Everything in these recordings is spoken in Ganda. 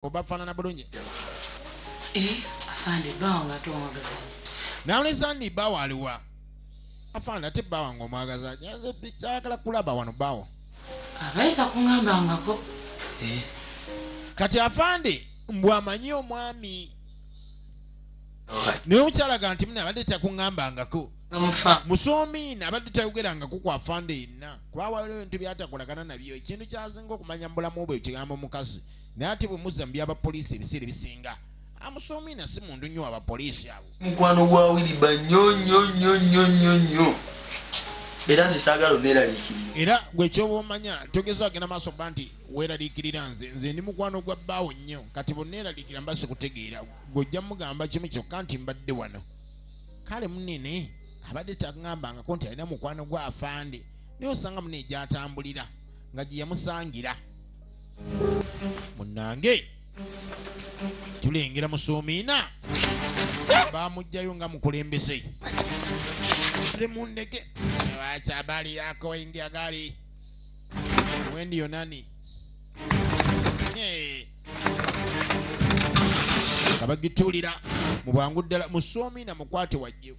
oba fanana bulungi eh, nawuleza ni bawo aliwa afande ate bawa nga omwagaza ayagala kulaba wano bawo abayita kungambangako eh. kati afande mbwamanyi omwami naye omukyalaga nti mune abadde takuŋambangako musoomiina abadde tayogerangako ku afande yenna kuba waliwo ebintu byatakolagana nabyo ekintu kyasinga okumanya mu bulamu bwe kigambo mukazi naye ate bwe muzza mu byaba poliisi ebiseera ebisinga amusoomina si mundu nnyo aba poliisi abo mukwano gwa wiriba nnyo nnyo nnyo nnyo nnyo nnyo era nze saagala oneeraliikirira era gwekyoba omanya togeza agenda maaso ba nti weeraliikirira nze nze ndi mukwano gwa bbaawo nnyo kati boneeraliikira mba sikutegeera gwojja mugamba kimu kyokka nti mbadde wano kale munene abadde tagambangako nti alina mukwano gwa afande naye osanga mune egyatambulira nga gye yamusangira munange tulengera musuumiina bamugjayo nga mukulembeze nze mundege lwaki abali yako india gali wendi yonani kabagituulira mu bwangu ddala musuumiina mukwate wajjewo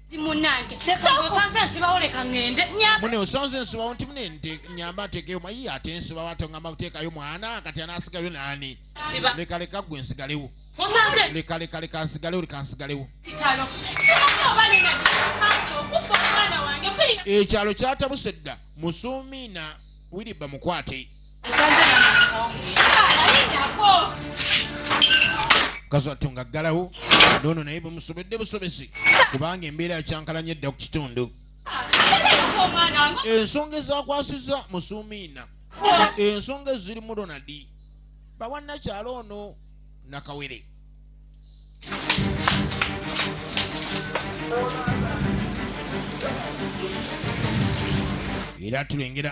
munange osanze nsibawo leka ŋende mune osanze nsibawo nti mune nyamba ntekeyo mayi ate nsibawo ate ŋamba kuteekayo mwana kati anasigayo naani leka leka gwe nsigalewo leka leka leka nsigalewo leka nsigalewo ekyalo kyatabuse dda musuumiina wiriba mukwate mukazi wattu nga ggalawo noono naye bumusobedde busobezi kubanga embeera yakyankalanya edda ku kitundu ensonga ezakwasiza musuumiina ensonga ezirimu ronadi bawanakyalo ono nakawere era tulengera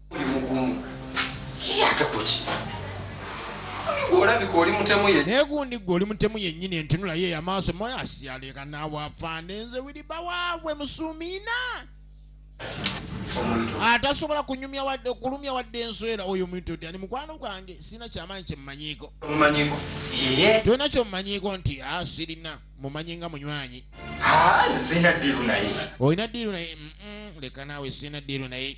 naye gundi gwe oli mutemu yennyini entunulayo eyamaaso moyo asiyaleka naawe afande nze wiriba waabwe musuumiina atasobola ah, kunyumya wadde okulumya wadde enswera oyo omuntu ti ani mukwano gwange sirina kyamaanyi kyemumanyiiko tolina kyomumanyiiko nti a ah, sirina mumanyi nga munywanyi ah, olina diiru naye leka naawe sirina diiru naye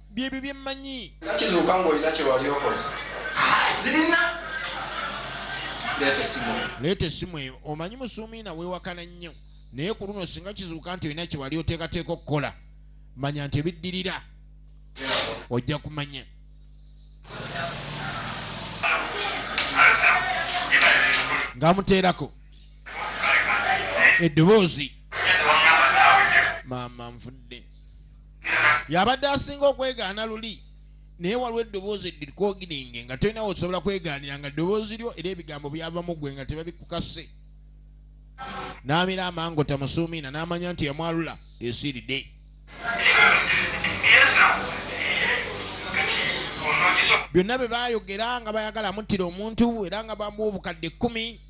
byebyo byemmanyi kizuuka ng'olina kye wali okoze zirina leeta essimu eyo omanyi musuumiina weewakana nnyo naye ku luno singa kizuuka nti olina kye wali oteekateeka okukola manya nti ebiddirira ojja kumanya ng'amuteerako eddoboozi maama nvudde yabadde asinga okwegaana luli naye waliwo eddoboozi eddikogiringe nga tolinawo osobola kwegaanira nga ddoboozi lyo era ebigambo byavamu gwe nga tebabikukase n'amira amango tamusuumiina n'amanya nti yamwalula esiiride byonna bye baayogera nga bayagala muttira omuntu era nga bamuwa obukadde kkumi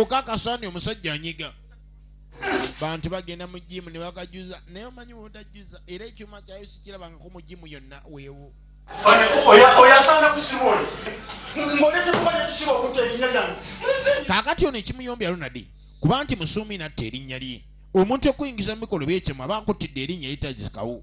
okakasa ni omusajja anyiga bantu bagenda mu jimu ne bakajuza naye omanyi wotajjuza era ekyuma kyayo sikirabangako mu jimu yonna weewo oyasanga kusimu oyo ngoletetubaekisiba okuta erinnya lyange kakati ono ekimuyombi alonadi kuba nti musuumi natta erinnya lye omuntu okuyingiza mu mikolo byekyamu aba akuttidde erinnya eritazikawo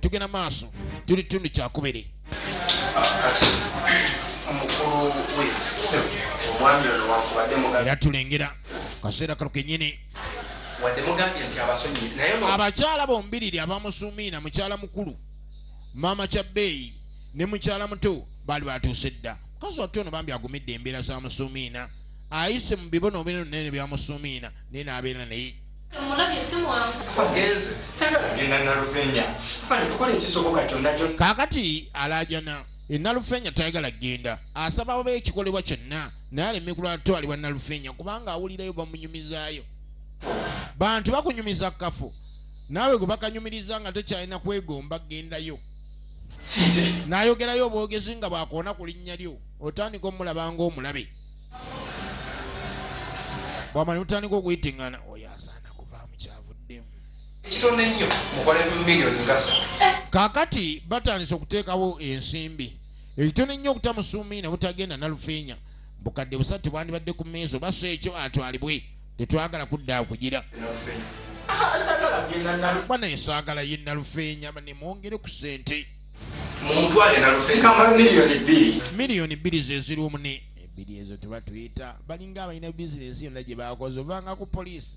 tugenda maaso tuli kitundu kyakubiri era tulengera kaseera kalo kenyini abakyala bombiriri abamusumiina mukyala mukulu maama kya bbeeyi ne mukyala muto baali batuuse dda mukazi wattu ono bambi agumidde embeera za musumiina ayise mu bibono obinene bya musumiina naye n'abeera naye kaakati alaajana enalufeenya tayagala kugenda asaba oba ekikolebwa kyonna naye aleme kulwatwalibwa nalufeenya kubanga awulirayo bamunyumizaayo bantu bakunyumiza kafu naawe gwe bakanyumiriza nga tekyalina kwegomba gendayo nayogerayo obwogezi nga bwakoona ku linnya lyo otandika omulaba ngaomulabe bwamala mutandika okuyitingana oyo asaana kuvaamu kyavuddemu kitono ennyo mukole miliyoni ngasa kaakati batandise okuteekawo ensimbi ekitono ennyo okutamusuumi ne butagenda nalufeenya bukadde busatu tebwandibadde ku meezo basa ekyo atwalibwe tetwagala kudda kugira bana esaagala ye nalufeenya nemwongere ku sente miliyoni bbiri zeziriwo mune ebbiri ezo tuba tuyita balinga abalina bizinesi yonna gye baakoze ovanga ku poliisi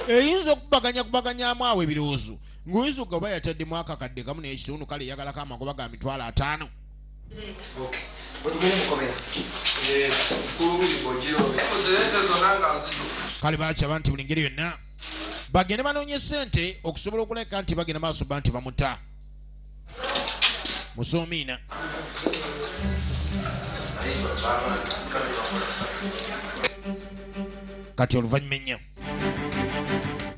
eyinza okubaganya kubaganyamu awo ebirowoozo ng'oyinza okuga oba yataddemu akakadde kamu naye ekitundu kale eyagalako amagoba ga mitwalo ataano kale bakyaba nti buli ngeri yonna bagende banoonye ssente okusobola okuleka nti bagenda maaso ba nti bamuta musuumiina kati oluvannyuma ennyo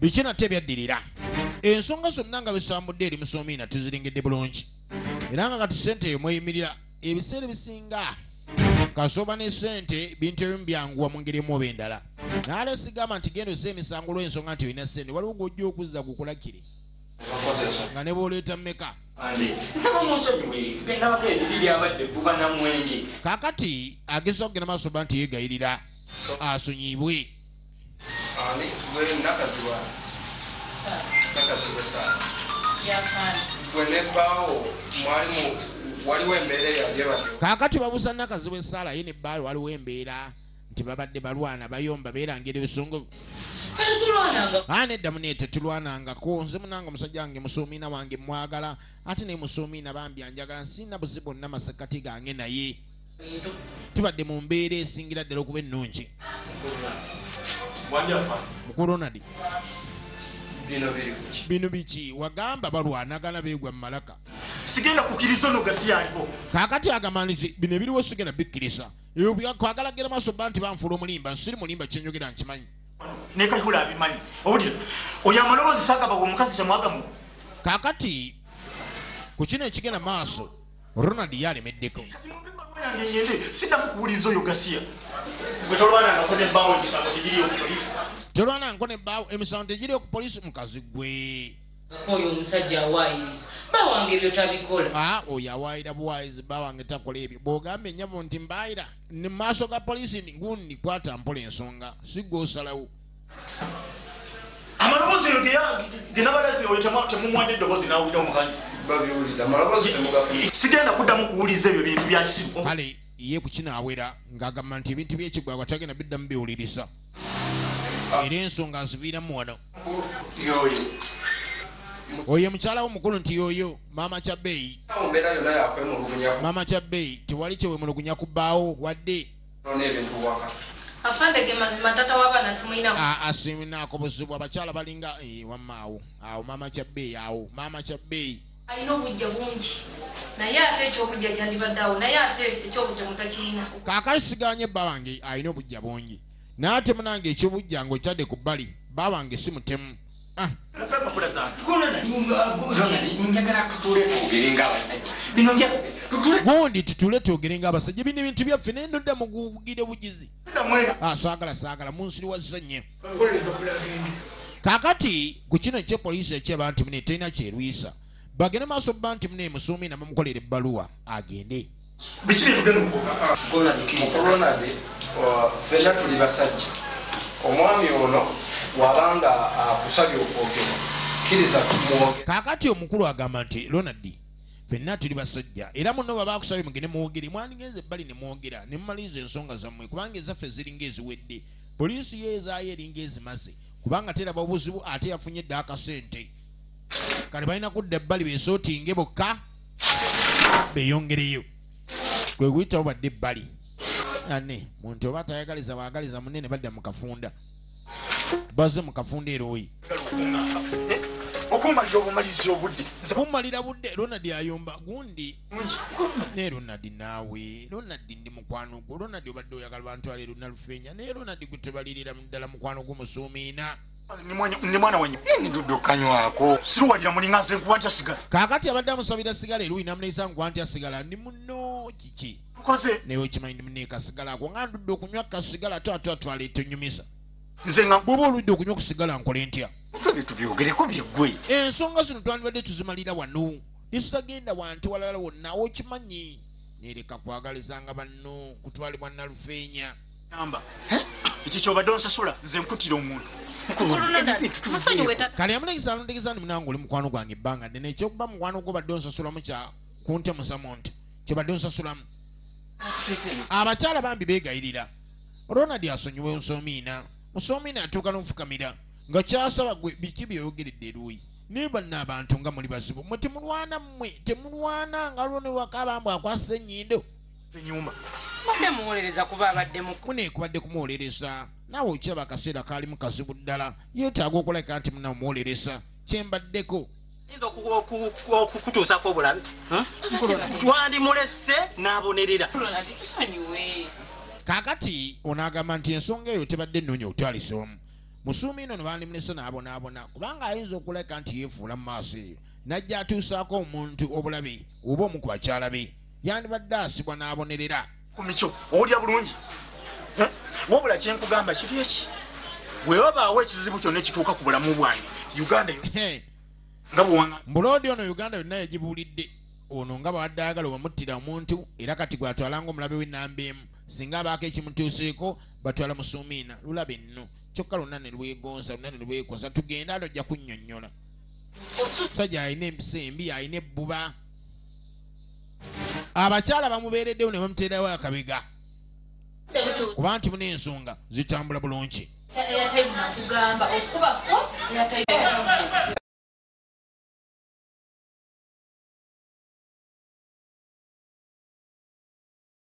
biki nate ebyaddirira ensonga zonna nga bisambudde eri musuumiina tuziringidde bulungi era nga kati sente eyo mweyimirira ebiseera ebisinga kasooba ne sente bintu ebimu byanguwa mu ngeri emu oba endala naalesigamba nti genda ozza emisango olw'ensonga nti olina sente waliwo gw'ojja okuzza gukulakire nga ne bwoleeta mmeka kakati ageza okugenda maaso ba nti yegayirira asonyibwe kakati babuza nakazibwa esaala ye ne bbaayo waliwo embeera nti babadde balwana bayomba beerangira ebisunguvu aa nedda mune tetulwanangako nze munanga omusajja wange musuumiina wange mwagala ate naye musuumiina bambi anjagala nsiina buzi bonna masekati gange naye tubadde mu mbeera esingira ddala okuba ennungi mukulonadi bino biki wagamba balwanagana begwa mumalaka sigenda kukiriza ono gasiyaliko kakati agamanizi bino ebiriwo sigenda bikkiriza kwagala gera maaso bba nti banfuula omulimba nsiri mulimba kyenyogera nkimanyi nekakula abimanyi obudira oyo amaloboozi sagaba omukazi kyemwagamu kakati ku kino ekigenda maaso ronald ye alemeddeko sidamu kuwuliriza oyo gasiya gwetolwanangako nebbaawo emisango tegiriyo ku polisi tolwanangako nebbaawo emisango tegiriyo ku polisi mukazi gwe oyo omusajja awaayiriza bawange ebyo tabikola ah, oyo awaayira buwaayirizi bawange takola ebyo bw'ogamba ennyabo nti mbaayira mu maaso ga poliisi ngundi kwata mpola ensonga si gwe osalawo amaloboozi eyo genabalazi oyo temumwanya eddoboozi nawulira omukazi sigenda kuddamu kuwuliza ebyo bintu byakisimu kale ye kukinaawera ng'agamba nti ebintu byekigwagwa tagenda biddamu biwuliriza era ensonga aziviiramu wano oyo mukyala wo mukulu nti yoyo maama kyabeeyi maama kyabeeyi tewali kyewemulugunya ku bbaawo wadde asiminaako buzibu abakyala balinga eh, wamaawo awo maama kyabeeyi awo maama kyabeeyi Alina obujja bungi naye ate ekyobujja kyandibadde awo naye ate ekyobutemu takirina. Kaakati sigaanye bba wange alina obujja bungi naye ate munange ekyobujja ng'okitadde ku bbali bba wange si mutemu. Ah. gundi tutule twogere ng'abasajja bino ebintu byaffe naye ndodda mugugire bugizi ah, saagala saagala munsiriwazza nnyo kakati ku kino ekye poliisi ekyeba nti mune terina kyerwisa bagende maaso bba nti mune musuumi nabamukolera ebbaluwa agende biki byebugenda okukolonade uh, fena tuli basajja omwami ono wabanga akusabye uh, okwogera kiriza tumwoge kakati omukulu agamba nti lonadi fenna tuli basajja era muno baba akusabye mugende muwogere mwandigenze ebbali ne mwogera ne mumaliriza ensonga zammwe kubanga ezaffe ziringa eziwedde Poliisi ye ezaayo eringa ezimaze kubanga teraba obuzibu ate yafunye dda akasente kale balina kudda ebbali besootinge bokka beyongereyo kwe kuyitawo badde ebbali ane muntu oba atayagaliza bwagaliza munne ne badda mu kafunda baze mu kafunda erooyi okummalira obumalizi obudde kummalira budde ronald ayomba gundi naye ronald naawe ronald ndi mukwano gwo ronald obadde oyagala bantu ale luna lufeenya naye ronald gwe tebalirira ddala mukwano gwo musuumiina ni mwana wenye ndudu kanywako siruwalira mulinga nze nkuwa ntya sigala kakati abadde amusabira sigala eruyi namuneyisa nkuwa ntya sigala ndi muno kiki nkoze naye okimanyi ndi muneeka sigala ako nga ndudde okunywa kasigala ate ate atwala etunyumiza nze nga bwoba oludde okunywa okusigala nkole ntya ebyo tubyogereko byeggwe ensonga zino twandibadde tuzimalira wano yesitagenda wantu walala wonna okimanyi nereka kwagalizanga banno kutwalibwa nalufeenya amba ekyo kyobadde onsasula nze nkutira omuntu kale yamulegeza alondegeza nti munange oli mukwano gwange ebbanga ddene ekyokuba mukwano gwo badde onsasulamu kya kuntemusamu nti kyobadde onsasulamu abakyala bambi beegayirira ronald asonyiwa onsoomiina musoomiina atuuka n'ofukamira nga kyasaba gwe biki byeyogeredde eruuyi naye banna abantu nga muli bazibu mwe temulwana mmwe temulwana nga lwo ne wakaba mbu akwasa ennyindo zinyuma badde muwolereza kuba abadde muku mune kubadde kumuwolereza naawe okiraba akaseera kaalimu kazibu ddala yeetaaga okulabika nti muna omuwolereza kye mbaddeko yinza okukutuusako obulabe hmm? twandimulese n'abonerera kaakati onaagamba nti ensonga eyo tebadde nnoonya otwalisomu musuumiina ono bandimulese n'abonaabona kubanga ayinza okuleka nti yeefuula mu maaso eyo n'ajja atuusaako omuntu obulabe oba omu ku bakyala be yandibadde asibwa n'abonerera ku mikyo owulira bulungi eh? wabula kye nkugamba kiri eki bwe babaawo ekizibu kyonna ekituuka ku bulamu bwange uganda nga bwewanga mbuloodi ono uganda yonna yagibuulidde ono nga bwadde ayagala obamuttira omuntu era kati gwatwala ngaomulabe w'ennamba emu singa abaako ekimutuuseeko batwala musuumiina lulaba enno kyokka lwonna ne lwegonza lwonna ne lwekoza tugende alo ojja kunnyonnyola omusajja alina empisa embi alina ebbuba abakyala bamubeereddewo ne bamuteerawo akabega kuba nti muna ensonga zitambula bulungi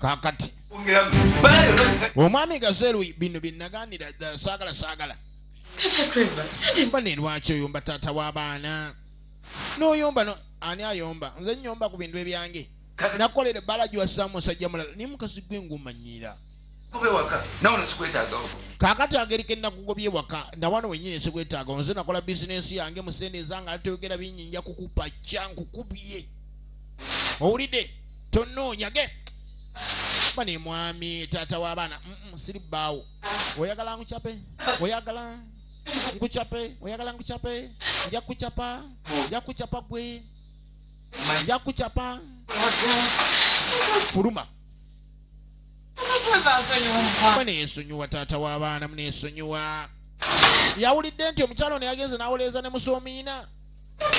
kakati omwami gazeru bino byenaganira saagala saagala mbane lwaki oyomba taata w'abaana n'oyomba no ani ayomba nze nyomba ku bintu ebyange nakolera ebbala giwasizaamu musajja mulala naye mukazi gwe ngumanyiira kaakati ageri ke nakugobye waka nawano wenyini sikwetaaga nze nakola bizinensi yange mu sente ezange ate toyogera bingi nja kukupa kya nkukubye owulidde tonoonya ge ba ne mwami taata w'abaana siri bbaawo oyagala nkucape oyagala nkucape oyagala nkucape nja kucapa nja kucapa gwe nja kucapa kuluma neesonyiwa taata w'abaana muneesonyiwa yawulidde nti omukyala ono yagenze n'awoleeza ne musoomiina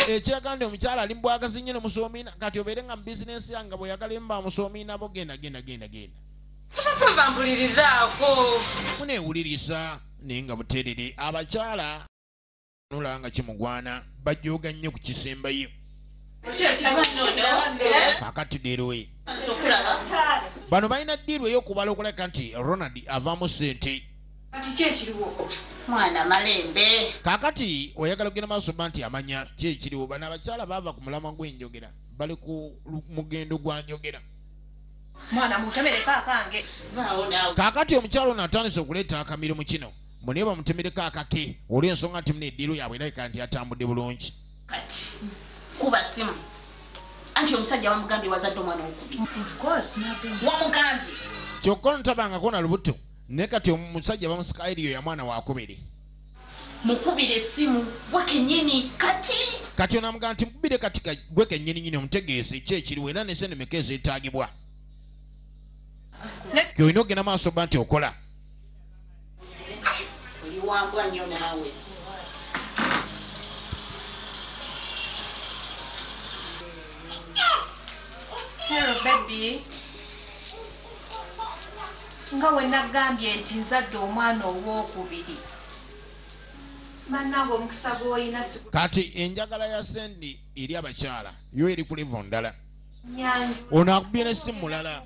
ekiraga nti omukyala ali mubwagazi nnyo ne musoomiina kati obeere nga mu bizinensi yange nga bweyagala emu ba musoomiina bo genda genda genda genda muneewuliriza naye nga buterere abakyala nula nga kimugwana bajooga nnyo ku kisembayo kakati dirwe bano balina diiru eyokubala okuleka nti ronald avaamu sente kakati oyagala okugenda maaso ba nti amanya ki ekiriwo bano abakyala baava ku mulamwa gw'enjogera bali ku mugendo gwa njogera kakati omukyala ono atandise okuleeta akamirimu kino mbu naye bamutemereko akake olw'ensonga nti muna eddiiro yaabwe erabika nti yatambudde bulungi kati kuba simu anti omusajja wamugambye wazadde omwana omukubi wamugambye kyokka onotabangako na lubuto naye kati omusajja bamusika eriyo ya mwana wakubiri mukubire essimu gwe kenyini kati kati onamugamba nti mukubire kati gwe kenyini nyini omutegeese ki ekiriwo era nesenemeka ezeetaagibwa kyolina ogenda maaso ba nti okola oliwambwa nnyo naawe Hello baby nga we nagambye nti nzadde omwana ow'okubiri bannange omukisa gw'olina kati enjagala ya sendi eri abakyala yo eri ku livo ndala ono akubye ne si mulala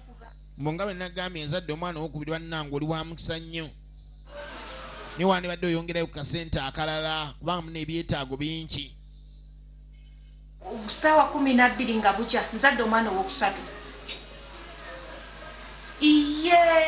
mbu nga bwe nagambye nzadde omwana owokubiri bannange oli wa mukisa nnyo naye wandibadde oyongerayo ku kasente akalala kubanga muna ebyetaago bingi saawa kumi nabbiri nga bukya nzadde omwana owokusatu iye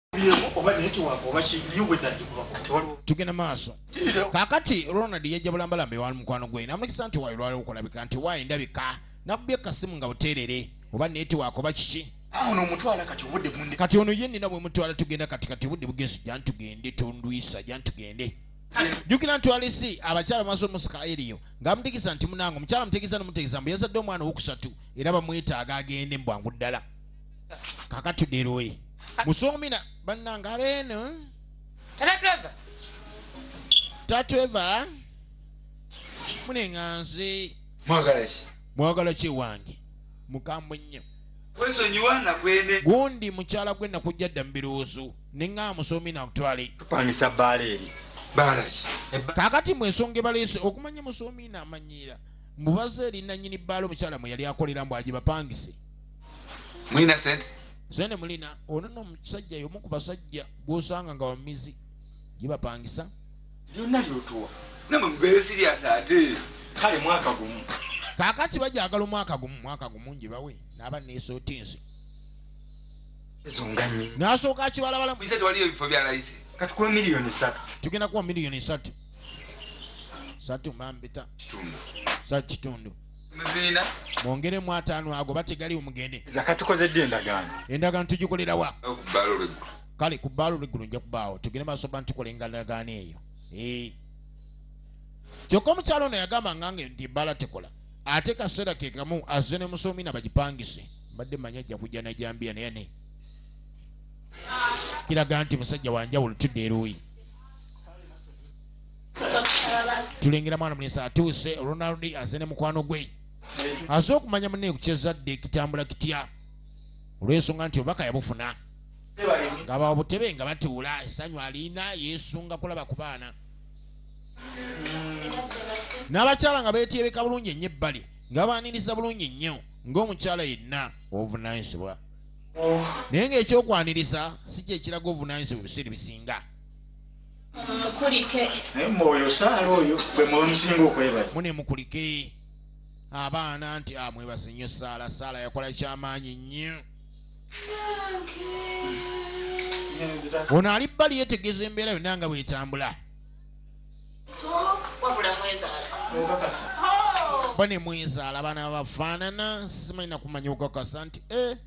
tugenda maaso kakati ronald yajja bulambalamba ewali mukwano gwe namulekisa nti wayi lwali okulabika nti wayi ndabika nakubye kasimu nga buteerere oba netiwaaka oba kiki kati ono ye nina bwemutwala tugenda kati kati obudde bugensi jantugende tondwisa jantugende jukira nti walisi abakyala maaso omusika eriyo ngaamutegeza nti munange omukyala mutegeza nomutegeza mbu yazadde omwana owokusatu era bamwetaaga agende mubwangu ddala kakati deroyi musomina bannanga beeno tatweva munenga nze mwagala ki ewange mukambwe nnyo gundi mukyala gwe nakujja dda mu birowoozo ne nga musomi nakutwale kupangisa bbaala eri kakati mu ensonga ebaleese okumanya musomi naamanyiira mubaze eri nanyini bbaala omukyala mwe yali akolera mbu agibapangise mulina sente sente mulina ono no omusajja yomu ku basajja gwosanga nga wamizi gibapangisa byonna byotuwa namwe mubeere siriasi ate kale mwaka gumu kakati bajagala omwaka gumu mwaka gumu njibawe naaba nesotinsi ezonganye nasooka akibalabala ise tewaliyo ebifo bya layisi kati kuwa miliyoni satu tugenda kuwa miliyoni satu satu mambita kitundu sa kitundu muziina mwongeremu ataano ago bategaliwo mugende zakatukozedde endagaano endagaano tugikolerawa kale ku bbaalo lweggulu nja kubaawo tugende maaso ba ntukola engalagaano eyo kyokka omukyalo ono yagamba ngange nti ebbaala tekola ate kaseera ke kamu azze ne musoomi na bagipangise mbadde manya ajja kujja najambiya naye ne kiraga nti musajja wanjawulo tudde eruuyi tulengera mwana mulenzi atuuse ronald aze ne mukwano gwe aze okumanya munne kukyezadde kitambula kitya olwensonga nti obubaka yabufuna nga babutebe nga batuula esanyu aliina yesunga kulaba ku baana n'abakyala nga beetyebeka bulungi ennyo ebbali nga babaaniriza bulungi nnyo ng'omukyala yenna obuvunanyizibwa naye ng'ekyokwaniriza si kyekiraga obuvunanyizibwa ebiseera ebisinga mukulike naye mwe oyo saala oyo bwe muba musinga okwebaza mune mukulike abaana nti ah, mwebaze nnyo saala saala yakola kyamaanyi nnyo ono ali bbali yetegeeza embeera yonna nga bwetambula ba ne mwezaala abaana babafaanana simanyi nakumanya okukakasa nti eh,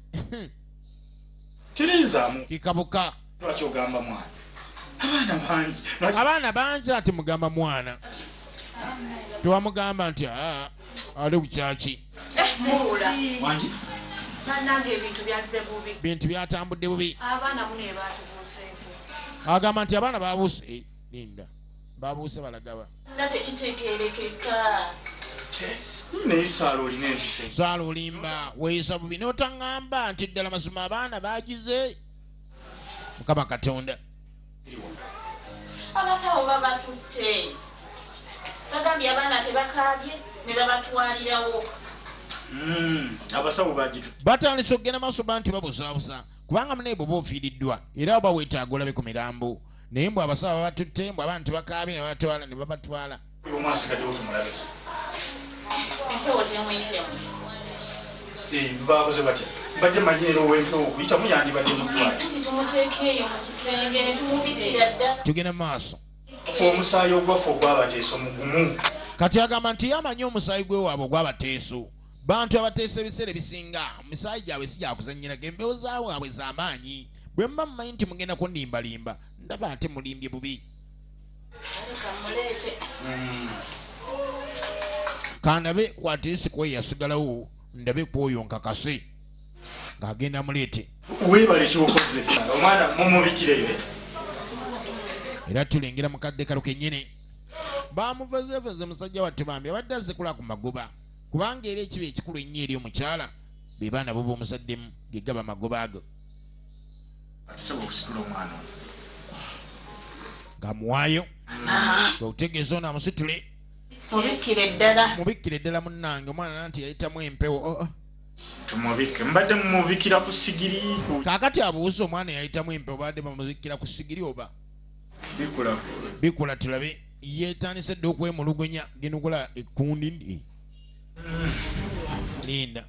kirinzamu kikabuka lwaki ogamba mwana abaana bangi abaana bangi ati mugamba mwana tewamugamba nti ah, ali bukyaki bintu byatambudde bubi agamba nti abaana babuuse linda babuuse balagawa saala olimba weyisa bubi notaŋamba nti ddala mazima abaana bagize mukama katonda abakawo babatutte bagambye abaana tebakaabye ne babatwalirawo hmm, abasawo bagitu batandise okugenda maaso ba nti babuzaabuza kubanga munaebwe oba ofiiriddwa era oba weetaaga olabe ku mirambo naye mbu abasawo babatutte mbu abaana tebakaabye nebabatwala ne babatwala bakoze batya bajja manyi era owempewo okuyitamu yandibadde mutwatugenda maaso omusaayi ogwaffe ogwabateeso mugumu kati agamba nti yamanyi omusaayi gwewaabwe ogwabateeso bantu abateesa ebiseera ebisinga omusaayi gyabwe si gyakuzanyirako embewo zaabwe abwe zamaanyi bwe mba mumanyi nti mugenda kundimbalimba ndaba ate mulimbye bubi hmm. kandabe kwatisi kwe yasigalawo ndabe kwoyo nkakase ng'agenda muleete weebale kyokoze omwana mumubikireyo era tulengera mukadde kalo kenyini bamuvezeveze musajja wattu bambi abadde azikula ku magoba kubanga era ekiba ekikulu ennyo eri omukyala be baana bo b'omuzaddemu gegaba magoba ago Ssebo okusitula omwana ono. Ng'amuwaayo. Kwe kutegeeza ono amusitule. Mubikkire ddala. Mubikkire ddala munnange omwana nanti yayitamu empewo. Oh, oh. Tumubikke. Mbadde mumubikkira ku sigiri. Kaakati abuuza omwana yayitamu empewo baadde bamubikkira ku sigiri oba? Bikula. Bikula tulabe. Yeetandise dda okwemulugunya ginukula ekkundi. linda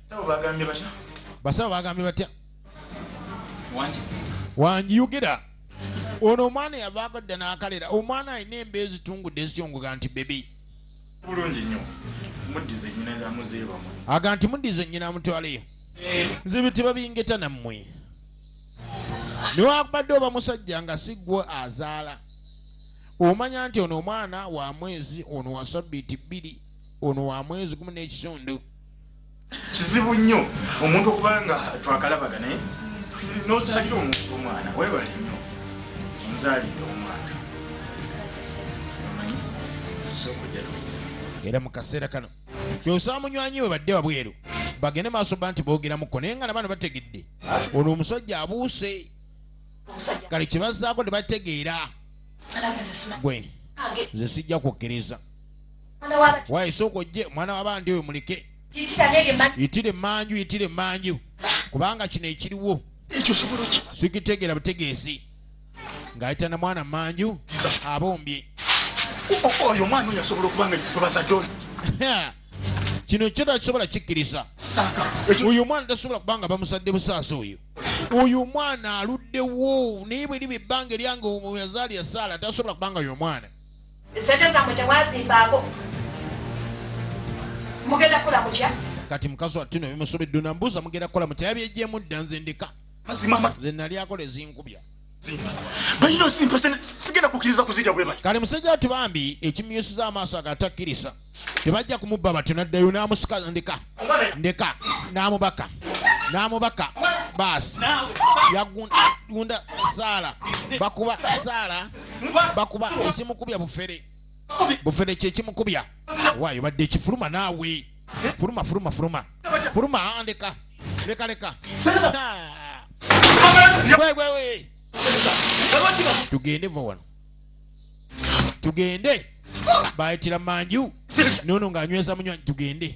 basawo bagambye batya wangi yogera ono omwana yavaako dda n'akalera omwana alina embeera ezitungudde ezityongoga nti bebi bulungi nnyo muddize nnyina zamuzeebamwe aga nti muddize nnyina amutwaleyo eh. nze biti babingeta nammwe newakubadde oba musajja nga siggwe azaala omanya nti ono omwana wa mwezi ono wa sabbiiti bbiri ono wa mwezi gumu n'ekitundu kizibu nnyo omuntu okuba nga twakalabaga naye nozalira omuntu omwana webale nnyo nzalidde omwana era mu kaseera kano kyosaba munywanyi we badde wabweru bagende maaso ba nti boogeramuko naye nga nabaana bategedde ono omusajja abuuse kale kyebazaako tebategeera gwe nze sijja kukkiriza wayi sooka ojje omwana wabandi oyo muleke yitire emanju yitire emanju kubanga kino ekiriwo sikitegera butegeezi ng'ayita na mwana manju abombye oyo omwana oyo asobola okuba nga yebazadde oyo kino kyo takisobola kikkiriza oyo omwana tasobola kuba nga bamuzadde busaasa oyo oyo omwana aluddewo naye bwe liba ebbanga eryange omuyazaali yasaala tasobola kuba nga oyo omwana Sente zamwe temwazimbaako. Mugenda kula mutya? Kati mukazi wa Tino bimusubi duna mbuza mugenda kola mutya yabyejjemu dda nze ndika. Mazima ma. Nze nali akola ezinkubya. Bayino simpa sente sigenda kukiriza kuzija bwe bali. Kale musajja tubambi ekimyusiza amaaso agatakkiriza. tebajja kumubba batyo naddayo n'amusika ndeka ndeka n'amubaka n'amubaka baasi yagunda saala bakuba saala bakuba ekimukubya bufere bufere kyekimukubya waayo badde ekifuluma naawe fuluma fuluma fuluma fuluma ah, ndeka leka leka tugende va wano tugende bayitira manju nono ng'anyweza munywanyi tugende